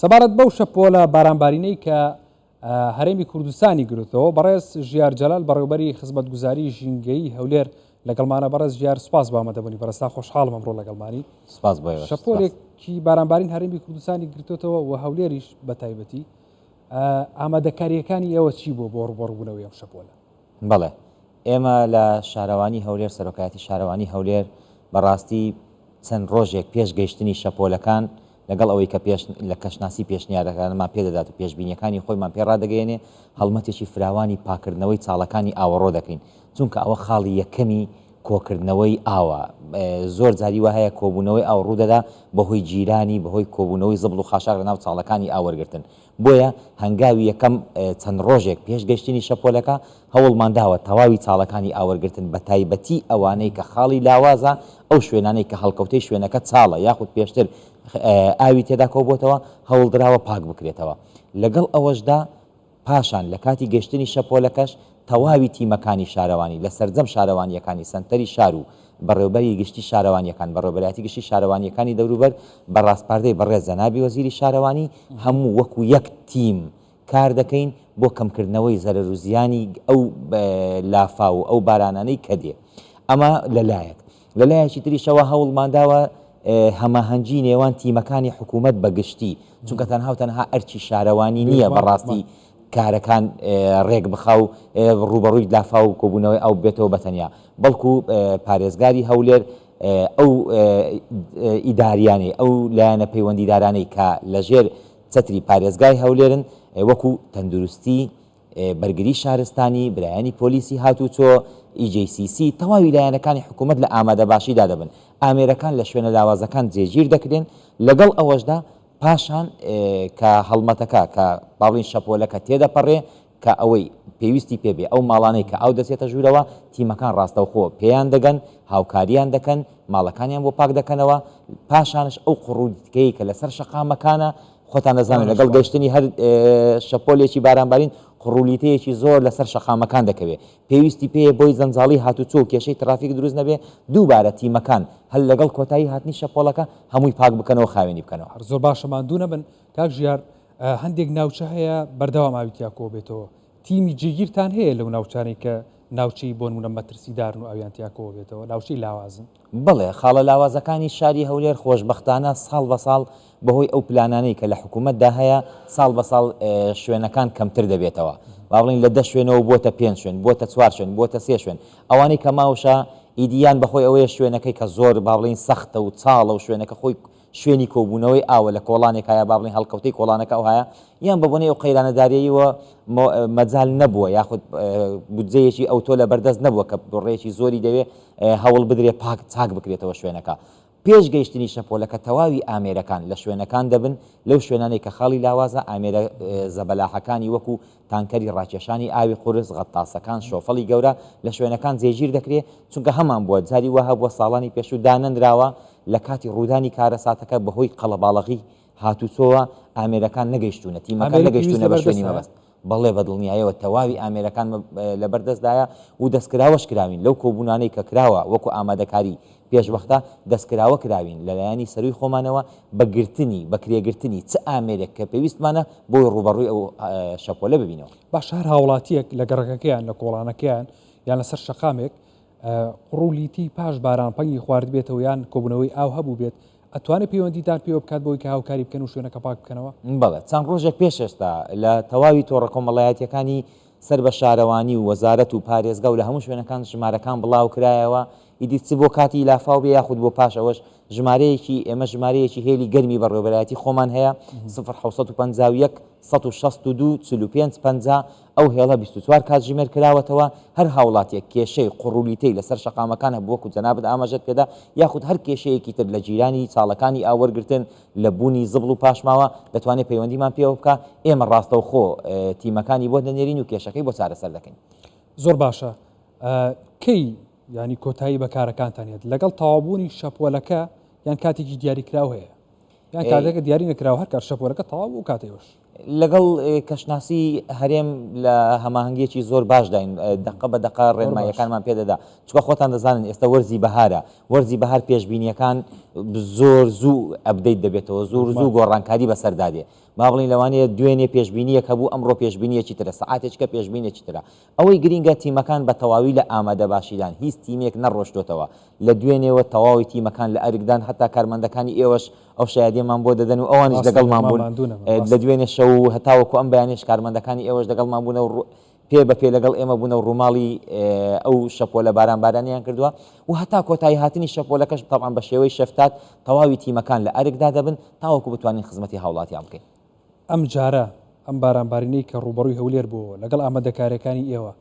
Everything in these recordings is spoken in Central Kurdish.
سەبارەت بەو شەپۆلە بارانبارینەی کە هەرێمی کوردستانی گرتەوە بەڕێز ژیار جەلال بەڕێوبەری خزمەتگوزاری ژینگەی هەولێر لەگەڵمانە بەڕێز ژیار سپاس بامەدەبوونی بەرەستا خۆشحاڵم ئەمڕۆ لەگەڵمانی سپاس شەپۆلێکی بارانبارین هەرمی کوردستانی گرتوتەوە و هەولێریش بە تایبەتی ئامادەکاریەکانی ئێوە چی بۆ بۆ ڕوبڕبوونەوەی ئەم شەپۆلە بەڵێ ئێمە لە شارەوانی هەولێر سەرۆکایەتی شارەوانی هەولێر بەڕاستی چەند ڕۆژێک پێش گەیشتنی شەپۆلەکان لەگەڵ ئەوەی کە پێش لە کەشناسی پێشنیارەکانمان پێ دەدات و پێشبینیەکانی خۆیمان پێ ڕادەگەیەنێ هەڵمەتێکی فراوانی پاکردنەوەی چاڵەکانی ئاوەڕۆ دەکەین چونکە ئەوە خاڵی یەکەمی کۆکردنەوەی ئاوە زۆر جاری وا هەیە کۆبوونەوەی ئاو ڕوودەدا بەهۆی گیرانی بەهۆی کۆبوونەوەی زبڵ و خاشاک لەناو چاڵەکانی ئاو وەرگرتن بۆیە هەنگاوی یەکەم چەند ڕۆژێک پێش گەشتنی شەپۆلەکە، هەوڵمان داوە تەواوی چاڵەکانی ئاوەرگرتن بەتایبەتی ئەوانەی کە خاڵی لاوازە، ئەو شوێنانەی کە هەڵکەوتەی شوێنەکە چاڵە یاخود پێشتر ئاوی تێدا کۆبۆتەوە، هەوڵدراوە پاک بکرێتەوە. لەگەڵ ئەوەشدا پاشان لە کاتی گەشتنی شەپۆلەکەش، تەواوی تیمەکانی شارەوانی لە سەرجەم شارەوانییەکانی سەنتەری شار و بەڕێوبەری گشتی شارەوانییەکان، بەڕێوبەرایەتی گشتی شارەوانییەکانی دەوروبەر بە ڕاسپاردەی بەڕێز جەنابی وەزیری شارەوانی، هەموو وەکو یەک تیم کار دەکەین بۆ کەمکردنەوەی زەرەر و زیانی ئەو لافاو و ئەو بارانانەی کە دێ. ئەمە لە لایەک. لە لایەکی تریشەوە هەوڵمان داوە هەماهەنگی نێوان تیمەکانی حکوومەت بە گشتی، چونکە تەنها و تەنها ئەرکی شارەوانی نییە بە ڕاستی کارەکان ڕێک بخا و ڕووبەڕووی لافاو و کۆبوونەوەی ئاو ببێتەوە بە تەنیا، بەڵکوو پارێزگاری هەولێر ئەو ئیدارییانەی، ئەو لایەنە پەیوەندیدارانەی کە لەژێر چەتری پارێزگای هەولێرن وەکوو تەندروستی، بەرگری شارستانی، برایانی پۆلیسی هاتووچۆ، EJCC، تەواوی لایەنەکانی حکوومەت لە ئامادەباشیدا دەبن، ئامێرەکان لە شوێنە لاوازەکان جێگیر دەکرێن، لەگەڵ ئەوەشدا پاشان کە هەڵمەتەکە کە با بڵێین شەپۆلەکە تێدەپەڕێ کە ئەوەی پێویستی پێ بێ، ئەو ماڵانەی کە ئاو دەچێتە ژوورەوە، تیمەکان ڕاستەوخۆ پێیان دەگەن، هاوکارییان دەکەن، ماڵەکانیان بۆ پاک دەکەنەوە، پاشانش ئەو قوڕودکەی کە لەسەر شەقامەکانە، خۆتان دەزانن لەگەڵ گەشتنی هەر شەپۆلێکی بارانبارین قڕولیتەیەکی زۆر لەسەر شەقامەکان دەکەوێت پێویستی پێ بۆی زەنجاڵی هاتوچۆ و کێشەی ترافیک دروست نەبێ دووبارە تیمەکان هەر لەگەڵ کۆتایی هاتنی شەپۆلەکە هەمووی پاک بکەنەوە خاوێنی بکەنەوە. هەر زۆر باشە ماندوو نەبن کاک ژیار هەندێک ناوچە هەیە بەردەوام ئاوی تیا کۆبێتەوە تیمی جێگیرتان هەیە لەو ناوچانەی کە ناوچەی بۆنمونە مەترسیدارن و ئاویان تیا کۆبێتەوە ناوچەی لاوازن؟ بەڵێ، خاڵە لاوازەکانی شاری هەولێر خۆشبەختانە ساڵ بە ساڵ بەهۆی ئەو پلانانەی کە لە حکوومەتدا هەیە، ساڵ بە ساڵ شوێنەکان کەمتر دەبێتەوە. با بڵێین لە دە شوێنەوە بووەتە پێنج شوێن، بووەتە چوار شوێن، بووەتە سێ شوێن. ئەوانەی کە ماوشە ئیدی یان بەهۆی ئەوەیە شوێنەکەی کە زۆر با بڵێین سەختە و چاڵە و شوێنەکە خۆی، شوێنی کۆبوونەوەی ئاوە لە کۆڵانێک هەیە با بڵێین هەڵکەوتەی کۆڵانەکە ئەوهایە یان بە بۆنەی ئەو قەیرانە داریەییەوە مۆ مەجال نەبووە یاخود بودجەیەکی ئەوتۆ لە بەردەست نەبووە کە بڕێکی زۆری دەوێ هەوڵ بدرێ پاک چاک بکرێتەوە شوێنەکە پێش گەیشتنی شەپۆلەکە تەواوی ئامێرەکان لە شوێنەکان دەبن لەو شوێنانەی کە خاڵی لاوازە ئامێرە زەبەلاحەکانی وەکو تانکەری ڕاکێشانی ئاوی قورس، غەتاسەکان، شۆفڵی گەورە لە شوێنەکان جێگیر دەکرێ، چونکە هەمان بووە، جاری وا هەبووە ساڵانی پێشوو دانەنراوە لە کاتی ڕوودانی کارەساتەکە بەهۆی قەڵەباڵغی هاتووچۆوە ئامێرەکان نەگەیشتوونە، تیمەکان نەگەیشتوونە بە شوێنی مەبەست. بەڵێ بە دڵنیایەوە تەواوی ئامێرەکان لەبەردەستدایە و دەستکراوەش کراوین، لەو کۆبوونانەی کە کراوە وەکو ئامادەکاری پێشوەختە دەستکراوە کراوین لە لایەنی سەرووی خۆمانەوە بە گرتنی، بەکرێگرتنی، چ ئامێرێک کە پێویستمانە بۆی ڕووبەڕووی ئەو شەپۆلە ببینەوە. باشە هەر هاوڵاتییەک لە گەڕەکەکەیان، لە کۆڵانەکەیان یان لەسەر شەقامێک قوڕ و لیتی پاش باران پەنگی خواردبێتەوە یان کۆبوونەوەی ئاو هەبووبێت، ئەتوانێت پەیوەندیتان پێوە بکات بۆوەی کە هاوکاری بکەن و شوێنەکە پاک بکەنەوە؟ بەڵێ، چەند ڕۆژێک پێش ئێستا لە تەواوی تۆڕە کۆمەڵایەتییەکانی سەر بە شارەوانی و وەزارەت و پارێزگا و لە هەموو شوێنەکان ژمارەکان بڵاوکرایەوە، ئیدی چ بۆ کاتی لافاو بێ یاخود بۆ پاش ئەوەش، ژمارەیەکی، ئێمە ژمارەیەکی هێلی گەرمی بەڕێوەبەرایەتی خۆمان هەیە، سفر حەوت سەد و پەنجا و یەک سەد و شەست و دوو چل و پێنج پەنجا، ئەو هێڵە بیست و چوار کاتژمێر کراوەتەوە، هەر هاوڵاتییەک کێشەی قوڕ و لیتەی لەسەر شەقامەکان هەبوو وەکو جەنابت ئاماژەت پێدا، یاخود هەر کێشەیەکی تر لە جیرانی چاڵەکانی ئاو وەرگرتن، لە بوونی زبڵ و پاشماوە دەتوانێت پەیوەندیمان پێوە بکا، ئێمە ڕاستەوخۆ تیمەکانی بۆ دەنێرین و کێشەکەی بۆ چارەسەر دەکەین. زۆر باشە کەی یانی کۆتایی بە کارەکانتان هێت لەگەڵ تەوابوونی شەپۆلەکە یان کاتێکی دیاریکراو هەیە یان کاتەکە دیاری نەکراوە هەر کار شەپۆلەکە تەواو و کاتێوەش لەگەڵ کەشناسی هەرێم لە هەماهەنگییەکی زۆر باشداین، دەقە بە دەقە ڕێنماییەکانمان پێ دەدا، چونکە خۆتان دەزانن ئێستا وەرزی بەهارە، وەرزی بەهار پێشبینییەکان زۆر زوو ئەپدەیت دەبێتەوە، زۆر زوو گۆڕانکاری بەسەردا دێ، با بڵێین لەوانەیە دوێنێ پێشبینییەک هەبوو، ئەمڕۆ پێشبینییەکی ترە، سەعاتێکیکە پێشبینێکی ترە، ئەوەی گرینگە تیمەکان بە تەواوی لە ئامادەباشیدان، هیچ تیمێک نەڕۆشتۆتەوە لە دوێنێوە، تەواوی تیمەکان لە ئەرکدان، هەتا کارمەندەکانی ئێوەش ئەو شایەدیەمان بۆ دەدەن و ئەوانیش لەگەڵمان بوون لە دوێنێ شەو و هەتاوەکو ئەم بەیانیش کارمەندەکانی ئێوەش لەگەڵمان بوونە و پێ بە پێ لەگەڵ ئێمە بوونە و ڕووماڵی ئەو شەپۆلە باران بارانیان کردووە و هەتا کۆتایی هاتنی شەپۆلەکەش تەبعەن بە شێوەی شەفتات تەواوی تیمەکان لە ئەرکدا دەبن تاوەکو بتوانین خزمەتی هاوڵاتیان بکەین. ئەمجارە ئەم بارانبارینەی کە ڕووبەڕووی هەولێر بووەوە لەگەڵ ئامادەکارییەکانی ئێوە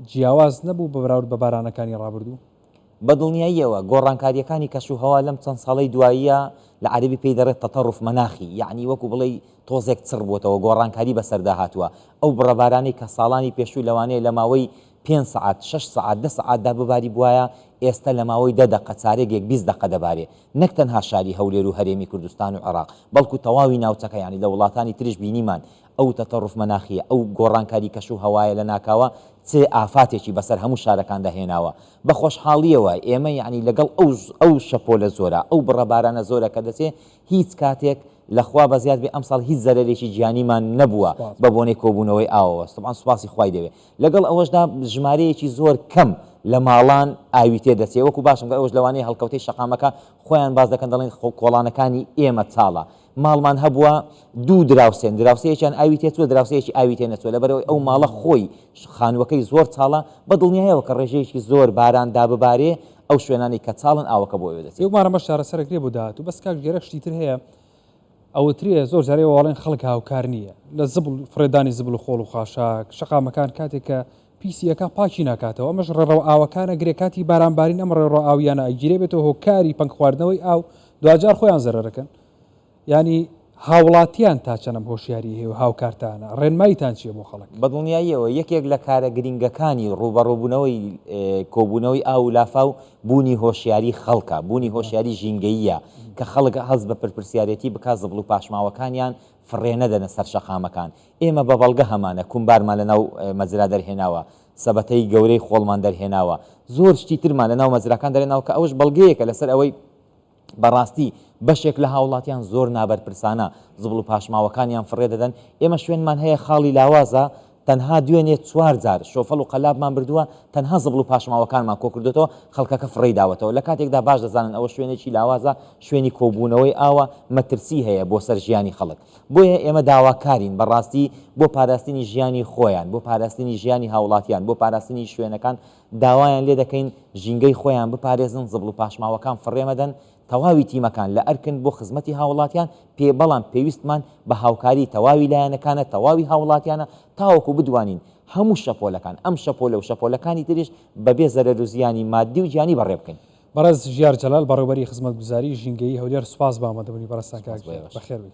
جیاواز نەبوو بە بەراورد بە بارانەکانی ڕابردوو؟ بە دڵنیاییەوە، گۆڕانکارییەکانی کەشوهەوا لەم چەند ساڵەی دواییە، لە عەرەبی پێی دەڵێت تەتەڕوف مەناخی، یەعنی وەکو بڵێی تۆزێک چڕبووەتەوە، گۆڕانکاری بەسەردا هاتووە، ئەو بڕە بارانەی کە ساڵانی پێشوو لەوانەیە لە ماوەی پێنج سەعات شەش سەعات دە سەعات دا بباریبوایە ئێستە لە ماوەی دە دەقە چارێ گێک بیست دەقە دەبارێ نەک تەنها شاری هەولێر و هەرێمی کوردستان و عێراق بەڵکو تەواوی ناوچەکە یانی لە وڵاتانی تریش بینیمان ئەو تەتەڕوف مەناخیە ئەو گۆڕانکاری کەش و هەوایە لە ناکاوە چ ئافاتێکی بەسەر هەموو شارەکاندا هێناوە بە خۆشحاڵیەوە ئێمە یانی لەگەڵ ئەو ئەو شەپۆلە زۆرە ئەو بڕە بارانە زۆرە کە دەچێ هیچ کاتێک لە خوا بەزیاد بێ ئەمساڵ هیچ زەرەرێکی گیانیمان نەبووە بە بۆنەی کۆبوونەوەی ئاوەوە طبعا سوپاسی خوای دەوێ. لەگەڵ ئەوەشدا ژمارەیەکی زۆر کەم لە ماڵان ئاوی تێ دەچێت وەکو باسم کرد ئەوەش لەوانەیە هەڵکەوتەی شەقامەکە خۆیان باس دەکەن دەڵێن کۆڵانەکانی ئێمە چاڵە ماڵمان هەبووە دوو دراوسێن دراوسەیەکیان ئاوی تێ چوە دراوسەیەکی ئاوی تێ نەچوە لەبەرەوەی ئەو ماڵە خۆی خانوەکەی زۆر چاڵە بە دڵنیایەوە کە ڕێژەیەکی زۆر باران داببارێ ئەو شوێنانی کە چاڵن ئاوەکە بۆ ئەوێ دەچێت. هیومارم بەس چارەسەرەک لێ بۆ داهاتوو بەس کاک ژیار شتی تر هەیە ئەوترێ زۆر جار ئێوە ئەڵێن خەڵک هاوکار نییە لە زبڵ فڕێدانی زبڵ و خۆڵ و خاشاک، شەقامەکان کاتێک کە پیسی ئەکا پاکی ناکاتەوە ئەمەش ڕێڕەو ئاوەکان ئەگرێ کاتی باران بارین ئەم ڕێڕەو ئاویانە ئەگیرێ بێتە هۆکاری پەنگ خواردنەوەی ئاو دواجار خۆیان زەرەر ئەکەن یانی هاوڵاتیان تا چەنەم هۆشیاری هەیە و هاوکارتانە ڕێنمایتان چییە بۆ خەڵک؟ بە دڵنیاییەوە یەکێک لە کارە گرینگەکانی ڕووبەڕووبوونەوەی کۆبوونەوەی ئاو و لافاو بوونی هۆشیاری خەڵکە، بوونی هۆشیاری ژینگەییە کە خەڵک هەست بە پرپرسیارێتی بکات زبڵ و پاشماوەکانیان فڕێ نەدەنە سەر شەقامەکان. ئێمە بە بەڵگە هەمانە کومبارمان لە ناو مەزرا دەرهێناوە، سەبەتەی گەورەی خۆڵمان دەرهێناوە، زۆر شتی ترمان لە ناو مەزراکان دەرهێناوە کە ئەوەش بەڵگەیەکە لەسەر ئەوەی بەڕاستی بەشێک لە هاوڵاتیان زۆر نابەرپرسانە زبڵ و پاشماوەکانیان فڕێ دەدەن، ئێمە شوێنمان هەیە خاڵی لاوازە تەنها دوێنێ چوار جار شۆفڵ و قەلابمان بردووە تەنها زبڵ و پاشماوەکانمان کۆکردۆتەوە خەڵکەکە فڕێی داوەتەوە لە کاتێکدا باش دەزانن ئەوە شوێنێکی لاوازە شوێنی کۆبوونەوەی ئاوە مەترسی هەیە بۆ سەر ژیانی خەڵک بۆیە ئێمە داواکارین بەڕاستی بۆ پاراستنی ژیانی خۆیان بۆ پاراستنی ژیانی هاوڵاتیان بۆ پاراستنی شوێنەکان داوایان لێ دەکەین ژینگەی خۆیان بپارێزن، زبڵ و پاشماوەکان فڕێ مەدەن، تەواوی تیمەکان لە ئەرکن بۆ خزمەتی هاوڵاتیان، پێ بەڵام پێویستمان بە هاوکاری تەواوی لایەنەکانە، تەواوی هاوڵاتیانە تاوەکو بدوانین هەموو شەپۆلەکان، ئەم شەپۆلە و شەپۆلەکانی تریش بەبێ زەرەر و زیانی ماددی و گیانی بەڕێ بکەین. بەڕێز ژیار جەلال، بەڕێوبەری خزمەتگوزاری ژینگەیی هەولێر سوپاس بۆ ئامادەبوونی بەڕێزتان کاک ژیار، بەخێربێی.